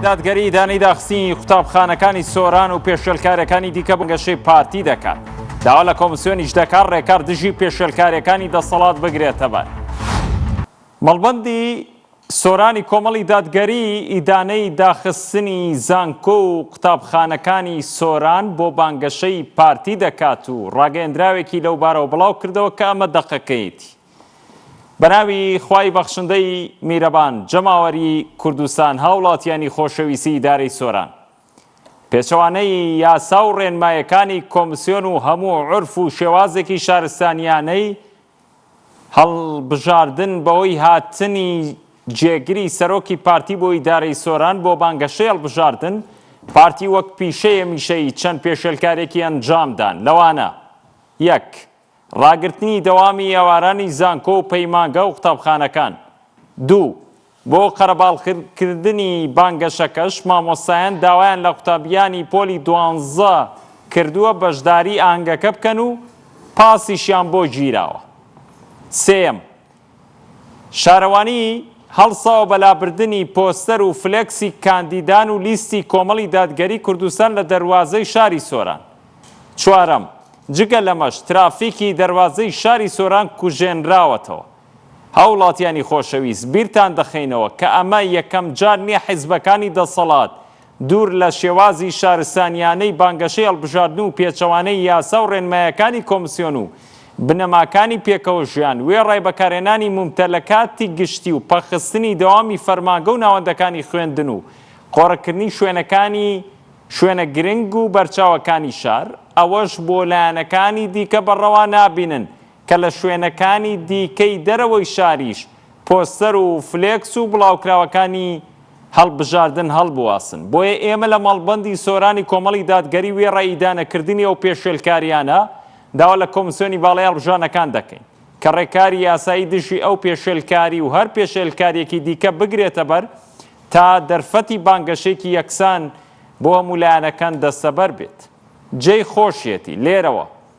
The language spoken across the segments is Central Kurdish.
دادگەری ئیدانەی داخستنی قوتابخانەکانی سۆران و پێشێلکارەکانی دیکە بەگەشەی پارتی دەکات داوا لە کۆمسیۆنیش دەکات ڕێکار دژی پێشێلکارەکانی دەسەڵات بگرێتەبەر مەڵبندی سۆرانی کۆمەڵی دادگەری ئیدانەی داخستنی زانکۆ و قوتابخانەکانی سۆران بۆ بانگەشەی پارتی دەکات و ڕاگەندراوێکی لەو بارەوە بڵاو کردەوە کە ئەمە دەقەکەیەتی بەناوی خوای بەخشندەی میرەبان جەماوەری کوردستان هاوڵاتیانی خۆشەویسی دارەی سۆران پێچەوانەی یاسا و ڕێنمایەکانی کۆمسیۆن و هەموو عرف و شێوازێکی شارستانیانەی هەڵبژاردن بەوەی هاتنی جێگری سەرۆکی پارتی بۆ ئیدارەی سۆران بۆ بانگەشەی هەڵبژاردن پارتی وەک پیشەیە میشەی چەند پێشێلکارێکی ئەنجامدان لەوانە یەک ڕاگرتنی دەوامی ئێوارانی زانکۆ و پەیمانگە و قوتابخانەکان. دوو، بۆ قەرەباڵغکردنی بانگەشەکەش، مامۆستایان داوایان لە قوتابییانی پۆلی دوانزە کردووە بەشداری ئاهەنگەکە بکەن و پاسیشیان بۆ گیراوە. سێیەم، شارەوانی هەڵساوە بە لابردنی پۆستەر و فلێکسی کاندیدان و لیستی کۆمەڵی دادگەری کوردستان لە دەروازەی شاری سۆران. چوارەم، جگە لەمەش ترافیکی دەروازەی شاری سۆران کوژێنراوەتەوە. هاوڵاتیانی خۆشەویست بیرتان دەخەینەوە کە ئەمە یەکەم جار نیە حیزبەکانی دەسەڵات دوور لە شێوازی شارستانییانەی بانگەشەی هەڵبژاردن و پێچەوانەی یاسا و ڕێنمایەکانی کۆمسیۆن و بنەماکانی پێکەوە ژیان، وێڕای بەکارهێنانی مومتەلەکاتی گشتی و پەخستنی دەوامی فەرمانگە و ناوەندەکانی خوێندن و قۆرغکردنی شوێنەکانی شوێنە گرنگ و بەرچاوەکانی شار، ئەوەش بۆ لایەنەکانی دیکە بە ڕەوا نابینن کە لە شوێنەکانی دیکەی دەرەوەی شاریش پۆستەر و فلێکس و بڵاوکراوەکانی هەڵبژاردن هەڵبواسن، بۆیە ئێمە لە مەڵبەندی سۆرانی کۆمەڵی دادگەری وێڕای ئیدانەکردنی ئەو پێشێلکارییانە، داوا لە کۆمسیۆنی باڵای هەڵبژاردنەکان دەکەین، کە ڕێکاری یاسایی دژی ئەو پێشێلکاری و هەر پێشێلکارییەکی دیکە بگرێتەبەر، تا دەرفەتی بانگەشەیەکی یەکسان بۆ هەموو لایەنەکان دەستەبەر بێت. جێی خۆشیەتی لێرەوە.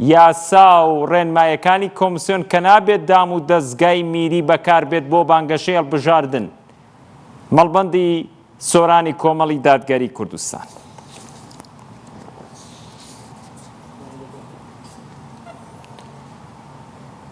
یاسا و ڕێنمایەکانی کۆمسیۆن کە نابێت دام و دەزگای میری بەکاربێت بۆ بانگەشەی هەڵبژاردن مەڵبەندی سۆرانی کۆمەڵی دادگەری کوردستان.